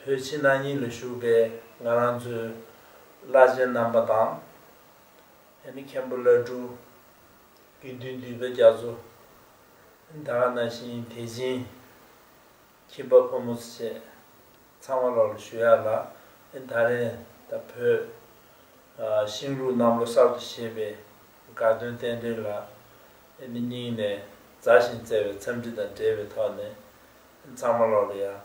བོད་ཕྱི་ནང་གཉིས་ལ་བཞུགས་པའི་ང་རང་ཚོའི་བླ་ཆེན་རྣམ་པ་དང། ཡང་ན་མཁན་པོ་བླ་སྤྲུལ། དགེ་འདུན་འདུས་པ་རྒྱ་མཚོ། འདའ་ཁ་ན་ཤིང་དེ་བྱིན། ཁྱིམ་པ་ཕོ་མོ་བཅས་ཚང་མ་ལོགས་ལ་ཞུ་ཡག་ལ། ད་རེས་ད་བོད། ཤིང་ལུག་གནམ་ལོ་གསར་དུ་ཞེས་པའི་དགའ་སྟོན་རྟེན་འབྲེལ་ལ། སྙིང་ནས་མཛའ་ཞིང་བརྩེ་བའི་འཚམས་འདྲི་དང་འབྲེལ་བའི་ཐོག་ནས། གཙང་མ་ལོག་ལ་ཡང་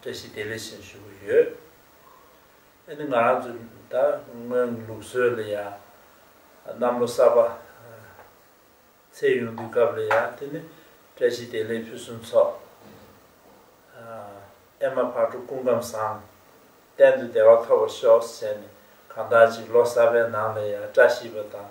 བཀྲ་ཤིས་བདེ་ལེགས་ཞུ་གི་ཡོད། ང་རང་ཚོ་ད་སྔོན་གྱི་ལུགས་སྲོལ་ལ་ཡང་གནམ་ལོ་གསར་པ་ཚེས་ཡུང་དུས་སྐབས་ལ་ཡང་དེ་ནི་བཀྲ་ཤིས་བདེ་ལེགས་ཕུན་སུམ་ཚོགས། ཨེ་མ་ཕག་གྲུ་སྐུ་ཁམས་བཟང། གཏན་དུ་བདེ་བ་ཐོབ་པར་ཤོག་ཟེར་ནས་གང་དག་ཅིག་ལོ་གསར་པའི་ནང་ལ་ཡང་བཀྲ་ཤིས་པ་དང།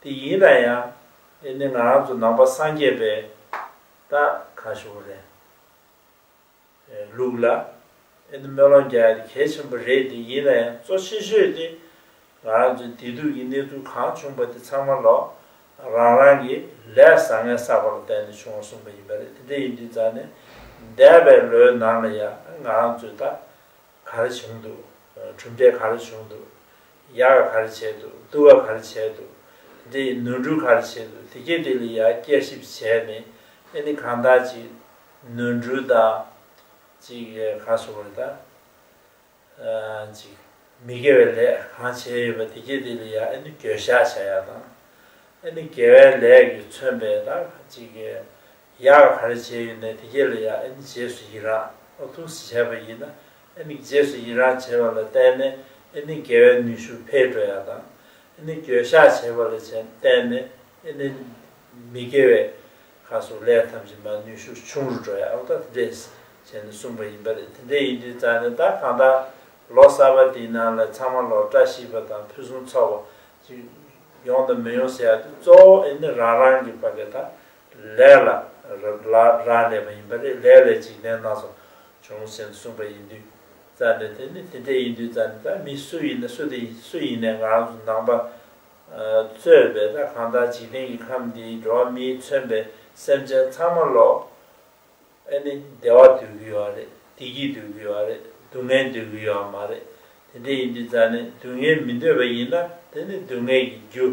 དེ་ཡིན་ན་ཡང་འདི་ནི་ང་རང་ཚོ་ནང་པ་སངས་རྒྱས་པའི་རྟགས་གང་ཞིག་རེད། ལུགས་ལ་ཨེ་འདི་སྨོན་ལམ་རྒྱག་ཡ་དེ་གལ་ཆེན་པོ་རེད་དེ་ཡིན་ན་ཡང་གཙོ་ཆེ་ཤོས་དེ་ང་རང་ཚོའི་བདེ་སྡུག་གི་གནས་ཚུལ་གང་བྱུང་པ་དེ་ཚང་མ་ལོག་རང་རང་གི་ལས་བཟང་ངན་བསགས་པ་ལ་བརྟེན་ནས་བྱུང་བ་གསུངས་པ་ཡིན་པ་རེད་དེ་འདྲ་ཡིན་དུས་ཙང་ནས་འདས་པའི་ལོའི་ནང་ལ་ཡང་ང་རང་ཚོའི་རྟགས་ག་རེ་བྱུང་འདུག་གྲུབ་འབྲས་ག་རེ་བྱུང་འདུག་ཡར་གར་བྱེད་དོ་དུ་བ་གར་བྱེད་དོ། འདི་ཡི་ནོར་འབྲུ་གར་བྱེད་དོ་དེ་སྐད་དེ་ལ་ཡང་བསྐྱར་ཞིབ་བྱས་ནས་ཨེ་ནི་གང་དག་ཅིག་ནོར་འབྲུ་དག་ཅིག་གར་སོང་བ་རེད་ད། ཅིག་མི་དགེ་བའི་ལས་གང་བྱས་ཡོད་པ་དེ་སྐད་དེ་ལ་ཡང་ཨེ་ནི་འགྱོད་བཤགས་བྱ་ཡག་དང། ཨེ་ནི་དགེ་བའི་ལས་ཀྱིས་མཚོན་པའི་དག་ཅིག་ཡར་ག་རེ་བྱས་ཡོད་ནས་དེ་གས་ལ་ཡར་ཨེན་རྗེས་སུ་ཡི་རངས་ཨ་ཐུང་སི་བྱས་པ་ཡིན་ན་ཨེ་མི་རྗེས་སུ་ཡི་རངས་བྱས་པ་ལ་བརྟེན་ནས་ཨེ་ནི་དགེ་བའི་ནུས་ཤུགས་འཕེལ་འགྲོ་ཡག་དང་ཨེ་ནི་འགྱོད་བཤགས་བྱས་པ་ལ་བརྟེན་ནས་ཨེ་ནི་མི་དགེ་བའི་ཁ་སོགས་ལས་ཐམས་ཅད་མ་ནུས་ཤུགས་ཆུང་རུ་འགྲོ་ཡག་ཨོ་ད་དེ་འདྲས་བྱས་ནས་གསུངས་པ་ཡིན་པ་རེད་དེ་འདྲས་ཡིན་དུས་རྩ་ནས་ད་གང་ལྟར་ལོ་གསར་པ་འདིའི་ནང་ལ་ཚང་མ་ལོ་བཀྲ་ཤིས་པ་དང་ཕུན་སུམ་ཚོགས་པ་ཅིག་ཡོང་དང་མི་ཡོང་ཟེར་ཡག་དུས་གཙོ་བོ་ཨེ་ནི་རང་རང་གི་བ་གས་དང་ལས་ལ་རག་ལས་པ་ཡིན་པ་ལས་ལས་ལས་འཇིག་རྟེན་སྣ་ཚོགས་བྱུང་ཟིན་གསུངས་པ་ཡིན་དུས་རྩ་ནས་དེ་ནི་དེ་འདྲས་ཡིན་དུས་རྩ་ནས་ད་མི་སུ་ཡིན་ན་སུ་དེ་ཡིན་སུ་ཡིན་ནས་ང་རང་ཚོ་ནང་པ་གཙོས་པའི་ད་གང་ལྟར་འཇིག་རྟེན་གྱི་ཁམས་འདིའི་འགྲོ་བ་མིའི་མཚོན་པའི་སེམས་ཅན་ཚང་མ་ལོ་ཨེ་ནི་བདེ་བ་འདོད་ཀྱི་ཡོད་རེད་བདེ་སྐྱིད་འདོད་ཀྱི་ཡོད་རེད་སྡུག་བསྔལ་འདོད་ཀྱི་ཡོད་མ་རེད་དེ་འདྲས་ཡིན་དུས་རྩ་ནས་སྡུག་བསྔལ་མི་འདོད་པ་ཡིན་ན་དེ་ནི་སྡུག་བསྔལ་གྱི་རྒྱུ།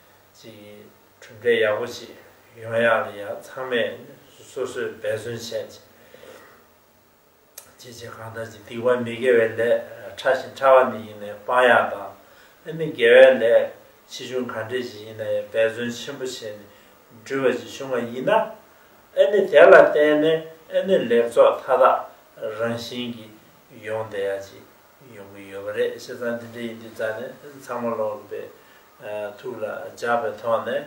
ཅིག་གྲུབ་འབྲས་ཡག་པོ་ཞིག་ཡོང་ཡག་ལ་ཡང་ཚང་མས་སོ་སོས་འབད་བརྩོན་བྱས། བྱས་བྱས་གང་ལྟར་གྱི་སྡིག་པ་མི་དགེ་བའི་ལས་ཕྲ་ཞིང་ཕྲ་བ་ནི་ཡིན་ནས་སྤང་ཡག་དང། ཨ་མི་དགེ་བའི་ལས་ཆེ་ཆུང་གང་འདྲས་ཀྱི་ཡིན་ན་ཡང་འབད་བརྩོན་ཆེན་པོ་བྱས་ནས་འགྲུལ་བ་ཅིག་བྱུང་བ་ཡིན་ན། ཨ་མི་དེ་ལ་བརྟེན་ནས་ཨ་མི་ལེགས་ཚོགས་མཐའ་དག་རང་བཞིན་གྱིས་ཡོང་བསྡད་ཡག་ཅིག་ཡོང་གི་ཡོད་པ་རེད་བཤད་ཚང་འདི་འདྲ་ཡིན་དུས་རྩ་ནས་ཚང་མ་ལོག་དགོས་པའི་ཐུགས་ལ་འཇགས་པའི་ཐོག་ནས།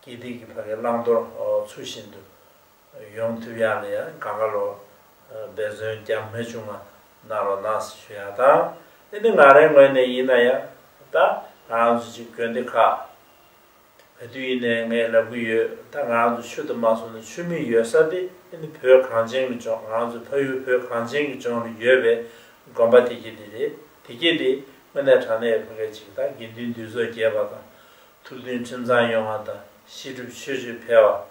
དགེ་སྡིག་གི་བར་གྱི་བླང་དོར་ཚུལ་བཞིན་དུ། ཡོམ་ཐུབ་ཡག་ལ་ཡང་དགའ་དགའ་ལོ། འབད་བརྩོན་རྒྱ་མི་ཆུང་བ་གནང་རོགས་གནང་ཟེར་ཞུ་ཡག་བཏང། འདི་ནི་ང་རའི་ངོས་ནས་ཡིན་ན་ཡང། ད་རང་ཚོ་གཅིག་དགོན་སྡེ་ཁག། བོད་དུ་ཡིན་ནས་ངས་ལབ་གི་ཡོད་ད་ང་རང་ཚོ་ཆོས་དུ་མ་སོང་ནས་ཆོས་མིན་ཡོད་ས་དེ་ཨེ་ནི་བོད་གངས་ཅན་གྱི་ལྗོངས་ང་རང་ཚོའི་ཕ་ཡུལ་བོད་གངས་ཅན་གྱི་ལྗོངས་རེད་ཡོད་པའི་དགོན་པ་དེ་སྐྱེ་དེ་རེད་དེ་སྐྱེ་དེ་དངོས་གནས་དྲང་གནས་ཕ་སྐད་ཅིག་དང་དགེ་འདུན་འདུས་ཚོགས་རྒྱས་པ་དང་ཐུགས་མཐུན་ཁྲིམས་གཙང་ཡོང་བ་དང་ཤེས་སྒྲུབ་ཆོས་སྤྱོད་འཕེལ་བ།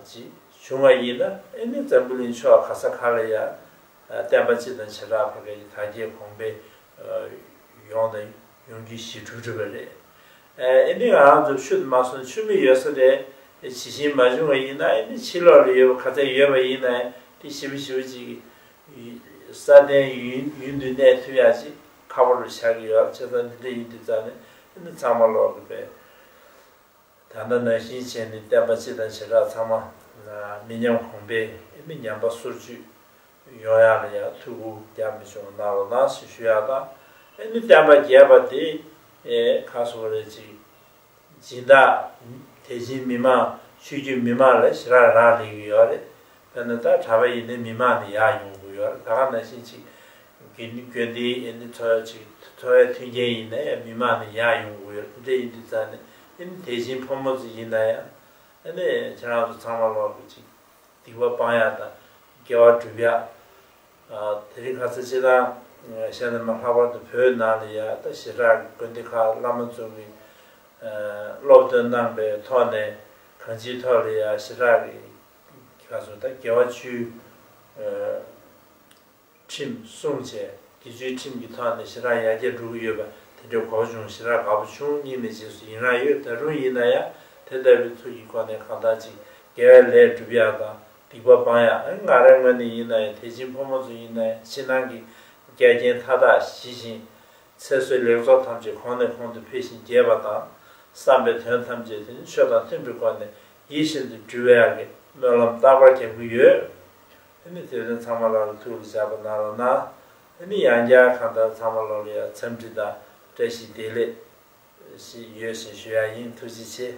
ཅིག་བྱུང་བ་ཡིན་ན་ཨེ་ནི་ཛམ་བུ་ལིང་ཕྱོགས་ག་ས་ག་ལ་ཡང་བསྟན་པ་སྤྱི་དང་བྱེ་བྲག་བར་ག་ཡི་དར་རྒྱས་གོང་འཕེལ་ཡོང་དང་ཡོང་རྒྱུའི་ཞི་ཕྲུག་བྲིས་པ་རེད། ཨེ་ནི་ང་རང་ཚོ་ཆུ་མ་སོང་ཆུ་མི་ཡོད་ས་རེད། ཇི་བཞིན་མ་བྱུང་བ་ཡིན་ན་ཨེ་ནི་ཕྱི་ལོགས་ལ་ཡོད་པ་ག་ཚད་ཡོད་པ་ཡིན་ནའི་དེ་ཞི་བ་ཞི་བ་ཅིག་ས་བརྟན་ཡུན་དུ་གནས་ཐུབ་ཡག་ཅིག་ཁ་པོ་རུ་ཆགས་ཀྱི་ཡོད་ལ་ཆེ་ཚང་འདི་འདྲ་ཡིན་དུས་ཙང་ནས་ཨེ་ནི་ཚང་མ་ལོག་གི་པས། ད་ལྟ་ན་ཤིང་ཆེན་ནི་བསྟན་པ་སྤྱི་དང་བྱེ་བྲག་ཚང་མ། མི་ཉམས་གོང་འཕེལ་ཨེ་མི་ཉམས་པ་སོར་ཆུད། ཡོང་ཡག་ལ་ཡག་ཐུགས་ཁུར་རྒྱ་མི་ཆུང་བ་གནང་རོགས་གནང་ཞེས་ཞུ་ཡག་དང། ཨེ་མི་བསྟན་པ་རྒྱས་པ་དེ། ཁ་སོ་རེ་གཅིག། སྦྱིན་བདག། དེ་བཞིན་མི་མང་ཆོས་བརྒྱུད་མི་མང་ལ་ཞི་རགས་རགས་ལེན་གྱི་ཡོད་རེད། ད་ནི་ད་གྲྭ་བ་ཡིན་ནི་མི་མང་ནི་ཡག་ཡོང་གི་ཡོད་རེད་ད་ག་ན་བཞིན་ཅིག་གིས་ནི་གྱོད་འདི་ཡིན་ནི་འཚོ་བ་ཅིག་འཚོ་བའི་མཐུན་རྐྱེན་ཡིན་ན་ཡང་མི་མང་ནི་ཡག་ཡོང་གི་ཡོད་རེད་འདྲེ་ཡིན་འདྲེ་ཚ་ནི་ཡིན་ནི་དེ་བཞིན་ཕོ་མོ་ཚོ་ཡིན་ན་ཡང་ནི་ཁྱེད་རང་ཚོ་ཚང་མ་ལོག་གི་ཅིག་སྡིག་པ་སྤང་ཡག་དང་དགེ་བ་སྒྲུབ་ཡག་དེ་རིང་ག་ཚ་ཅི་གནང་བཤད་ན་མ་ལྷག་པར་དུ་བོད་ནང་ལ་ཡག་ད་ཞེ་དྲག་གི་དགོན་སྡེ་ཁག་བླ་མ་ཚོ་གི་སློབ་སྟོན་གནང་པའི་ཐོག་ནས་གང་ཅིའི་ཐོག་ལ་ཡག་ཞེ་དྲག་གི། ལྷ་གསུམ་དང་རྒྱལ་བ་བཅུའི་ཁྲིམས་བསྲུང་བྱས། དགེ་བཅུའི་ཁྲིམས་ཀྱི་ཐོག་ནས་ཞེ་དྲག་ཡར་རྒྱས་འགྲོ་གི་ཡོད་པ་དེ་འདྲའི་གོ་བ་བྱུང་ཞེ་དྲག་དགའ་པོ་བྱུང་གཉིས་ནས་རྗེས་སུ་ཡི་རངས་ཡོད་ད་རུང་ཡིན་ན་ཡང་དེ་ལྟ་བུའི་ཚུལ་གྱི་སྒོ་ནས་གང་དག་ཅིག་དགེ་བའི་ལས་སྒྲུབ་ཡག་དང་སྡིག་པ་སྤང་ཡག་ཨང་ང་ར་ངོས་ནས་ཡིན་ན་ཡང་དད་ཅིང་ཕོ་མོ་ཚོ་ཡིན་ན་ཡང་ཕྱི་ནང་གི་རྒྱ་རྐྱེན་མཐའ་དག་ཞི་ཞིང། ཚེ་བསོད་ལེགས་ཚོགས་ཐམས་ཅད་གོང་ནས་གོང་དུ་འཕེལ་ཞིང་རྒྱས་པ་དང། བསམ་པའི་དོན་ཐམས་ཅད་དེ་ནི་ཆོས་དང་མཐུན་པའི་སྒོ་ནས་ཡིད་བཞིན་དུ་འགྱུར་བའི་ཡང་གི་སྨོན་ལམ་རྟག་པར་རྒྱག་གི་ཡོད། ཨེ་མི་དེ་རིང་ཚང་མ་ལ་ལ་ཐུག་ལ་བཞག་པ་ན་ལ་ན། ཨེ་མི་ཡང་བསྐྱར་གང་ལྟར་ཚང་མ་ལོ་ལ་ཡང་འཚམས་འདྲི་དང་བཀྲ་ཤིས་བདེ་ལེགས། ཞིག་ཡོད་བཞིན་ཞུ་ཡག་ཡིན་ཐུགས་རྗེ་ཆེ།